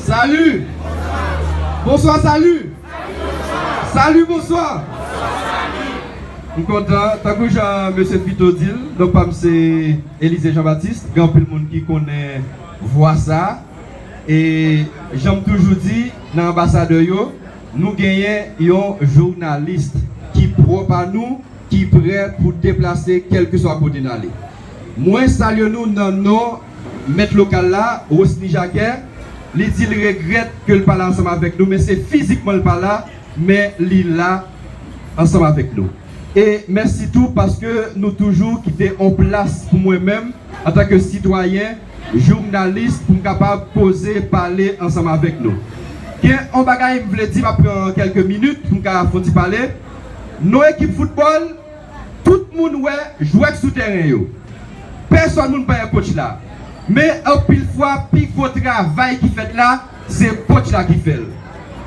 Salut! Bonswa Salut! Salut bonswa! M kontan, tankou jan mesye Pito di l, non pa m se Elysée Jean Baptiste, gen anpil moun ki konnen vwa sa. E jan m toujou di, nan anbasadè yo, nou genyen yon journalist ki pwòp a nou, ki prè pou deplase kèlkeswa kote n ale. Mwen salye nou nan non Mèt lokal la, Rosny Jacquet, li di l regrèt ke l pa la ansanm avèk nou men se fizikman l pa la men li la ansanm avèk nou. E mèsi tou paske nou toujou kite on plas pou mwen menm antanke sitwayen, journalis pou m kapab poze, pale ansanm avèk nou. Gen on bagay m vle di, m ap pran kèlke minit pou m ka fon ti pale. Non ekip foutbòl, Tout moun wè jwèt sou tèren yo. Pèsòn moun pa wè kotch la. Men anpil fwa pi gwo travay ki fèt la se kotch la ki fè l.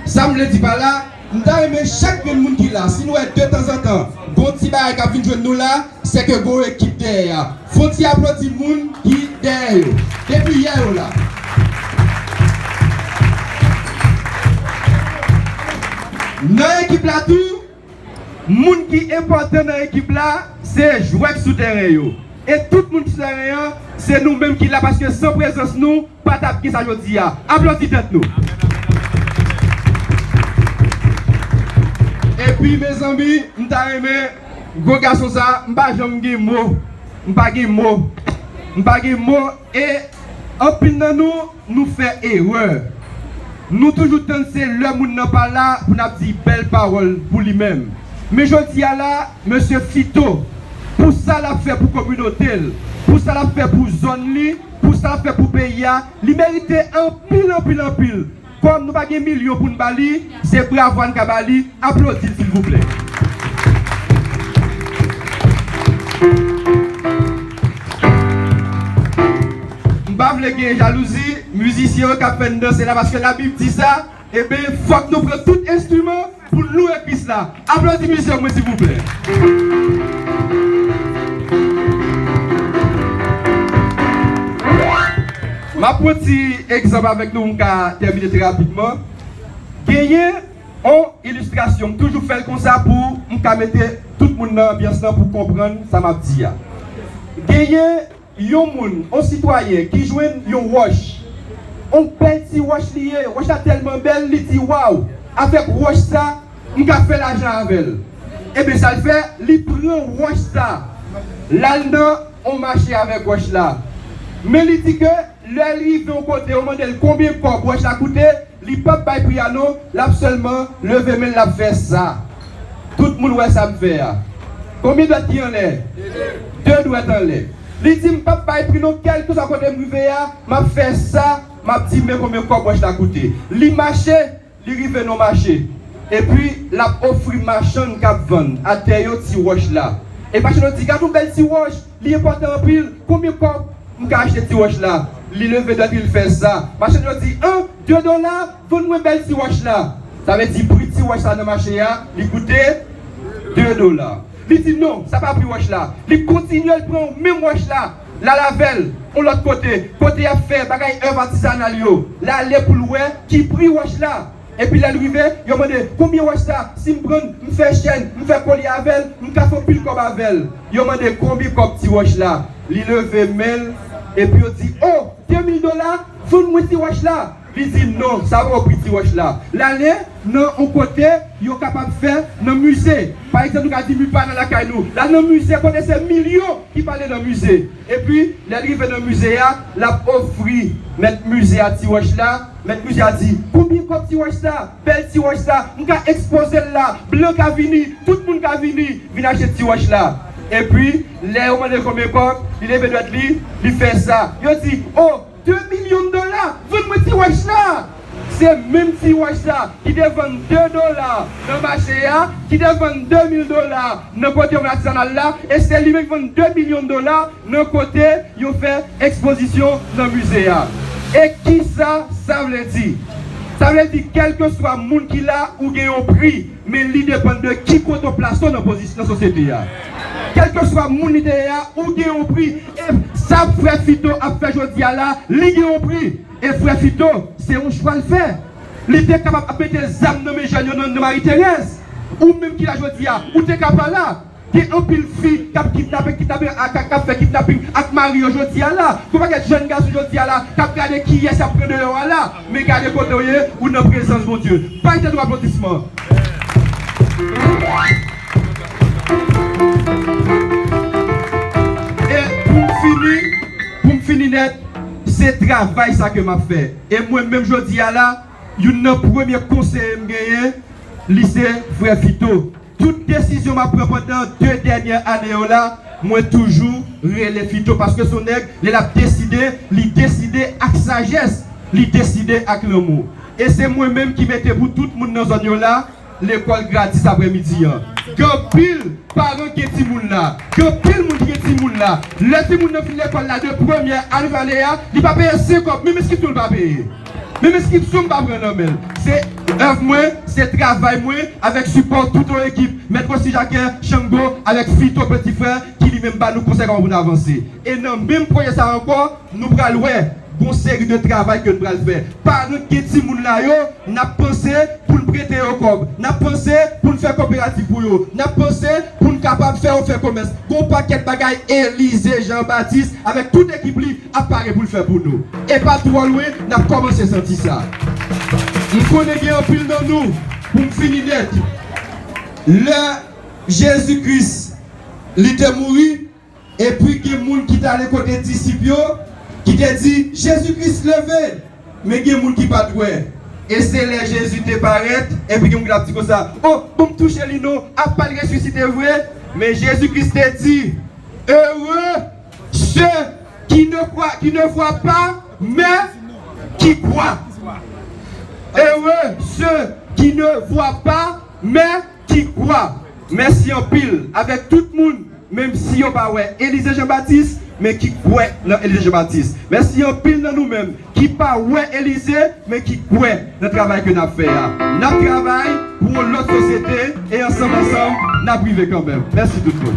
Sa m vle di pa la, m ta renmen chak grenn moun ki la, si n wè de tanzantan gon ti bagay k ap vin jwenn nou la, sè ke gon ekip dèyè a. Fon ti aplodi moun ki dèyè yo. Depi yè yo la. Nan ekip la tou. Moun ki enpòtan nan ekip la se jwè k sou tèren yo e tout moun ki sou tèren an se nou menm ki la paske san prezans nou pa tap gen sa jodi a. Aplodi tèt nou. Epi mezanmi m ta renmen gwo gason sa m pa janm gen mo m pa gen mo m pa gen mo e anpil nan nou. Nou fè erè. Nou toujou tann se lè moun nan pa la pou n ap di bèl pawòl pou li menm. Men jodi a la, mesye Fito, pou sa l ap fè pou kominote l, pou sa l ap fè pou zòn li, pou sa l ap fè pou peyi a, li merite anpil anpil anpil. Kòm nou pa gen milyon pou n ba li, Se bravo ann ka ba li, aplodi l silvouplè. M pa vle gen jalouzi mizisyen yo k ap fè n danse la paske labib di sa, eben fòk nou pran tout enstriman pou n louwe Kris la. Aplodi mizyon mwen silvouplè. M ap pran ti egzanp avèk nou m ka tèmine trè rapidman. Genyen on illustration m toujou fèl konsa pou m ka mete tout moun nan anbyans lan pou konprann sa map di a. Genyen yon moun on sitwayen ki jwenn yon wòch, on bèl ti wòch li ye, wòch la tèlman bèl li di waw avèk wòch sa m ka fè lajan avèl. Ebyen sal fè li pran wòch sa lal nan on mache avèk wòch la men li di ke Lèl rive yon kote ou mandel konbyen kò bwòch la koute li pap bay pri a non lap sèlman leve menl lap fè sa tout moun wè sam fè a konbyen dwèt ki anlè 2 dwèt anlè li dim pap bay pri non kèlkeswa kotem rive a map fè sa map di men konbyen kò bwòch la koute li mache Li rive nan mache, epi l ap ofri machann k ap vann atè yo ti wòch la. E machann yo di, Gad yon bèl ti wòch! Li enpòtan anpil! Konbyen kòb m ka achte ti wòch la? Li leve dwèt li, l fè sa. Machann yo di, An! De dola! Vann mwen bèl ti wòch la! Sa vle di pri ti wòch sa nan mache a, li koute de dola. Li di, Non, sa pa pri wòch la. Li kontinye, l pran menm wòch la. Lal avè l on lòt kote, kote y ap fè bagay èv atizanal yo. L ale pou l wè ki pri wòch la. Epi lè l rive, yo mande, Konbyen wòch sa? Si m pran l, m fè chèn, m fè kolye avè l, m ka fè anpil kòb avè l. Yo mande, Konbyen kòb ti wòch la? Li leve men l, epi yo di, O! Demil dola! Vann mwen ti wòch la! Li di non, sa wè ou piti wòch la, l ale nan yon kote yo kapab fè nan mize. Pa egzanp, nou ka di mi pa nan lakay nou, l al nan mize kote se milyon ki pale nan mize. Epi, lè l rive nan mize a, l ap ofri mèt mize a ti wòch la. Mèt mize a di, Konbyen kòb ti wòch sa? Bèl ti wòch sa! M ka ekspoze l la, blan ka vini, tout moun ka vini, vin achte ti wòch la. Epi, lè yo mande l konbyen kòb, li leve dwèt li, li fè sa. Yo di, O! 2 milyon dola! Vann mwen ti wach sa a! Se menm ti wach sa a ki te vann 2 dola nan mache a, ki te vann 2 mil dola nan kote yon atizanal la, e se li menm ki vann 2 milyon dola nan kote yo fè ekspozisyon nan mize a. E kisa sa vle di? Sa vle di kèlkeswa moun ki la, ou gen yon pri. Men li depann de ki kote w plase w nan pozis nan sosyete a. Kèlkeswa moun li te ye a, ou gen yon pri. E sa frè Fito ap fè jodi a la, li gen yon pri. E frè Fito, se yon chwa l fè. Li te kapab ap mete zam nan men jèn yo nan Marie Thérèse. Ou menm ki la jodi a, ou te ka pa la. Gen anpil fi kap kidnape kidnape ak kap fè kidnaping ak mari yo jodi a la, gon pakèt jèn gason jodi a la kap gade kiyès yap pran deyò a la, men gade kotew ye ou nan prezans Bondye. Bay tèt ou aplodisman. E poum fini, poum fini nèt, se travay sa ke map fè e mwen menm jodi a la youn nan premye konseye m genyen li se frè Vito. Tout desizyon map pran pandan 2 dènyè ane yo la mwen toujou rele Fito paske son nèg lè lap deside li deside ak sajès li deside ak lanmou e se mwen menm ki mete pou tout moun nan zòn yo la lekòl gratis aprè midi an gen anpil paran ki gen timoun la gen anpil moun ki gen timoun la lè timoun nan fin lekòl la de premyè al vale a li pa peye 5 kòb menm eskityon li pa peye. Menm eskip sou m pa pran nan men l. Se èv mwen, se travay mwen avèk sipò tout yon ekip, Mèt Rosy Jacquet, Shango, avèk Fito Peti Frè ki li menm ba nou konsèy kòman pou n avanse. E nan menm pwojè sa ankò, nou pral wè gon seri de travay ke n pral fè. Paran k gen timoun la yo, n ap panse pou n prete yo kòb, n ap panse pou n fè koperativ pou yo, n ap panse pou n kapab fè yo fè komès. Gon pakèt bagay Elize Jean Baptiste avèk tout ekip li ap pare pou l fè pou nou. E pa twò lwen n ap kòmanse santi sa. M konnen gen anpil nan nou, pou m fini nèt, lè Jezi Kris li te mouri, epi gen moun ki t ale kote disip yo, ki te di, Jezi Kris leve! Men gen moun ki pa t wè. E se lè Jezi te parèt, epi gen moun ki t ap di konsa, O, bon m touche li non, apa l resisite vre? Men Jezi Kris te di, Ere! Se ki ne kwa, ki ne vwa pa, mè ki kwa. Ere se ki ne vwa pa, mè ki kwa. Mèsi anpil avèk tout moun menm si yo pa wè Elize Jean Baptiste men ki kwè nan Elize Jean Baptiste. Mèsi anpil nan nou menm. ki pa wè Elize men ki kwè nan travay ke nap fè a nap travay pou yon lòt sosyete e ansanm ansanm nap rive kanmenm mèsi tout moun.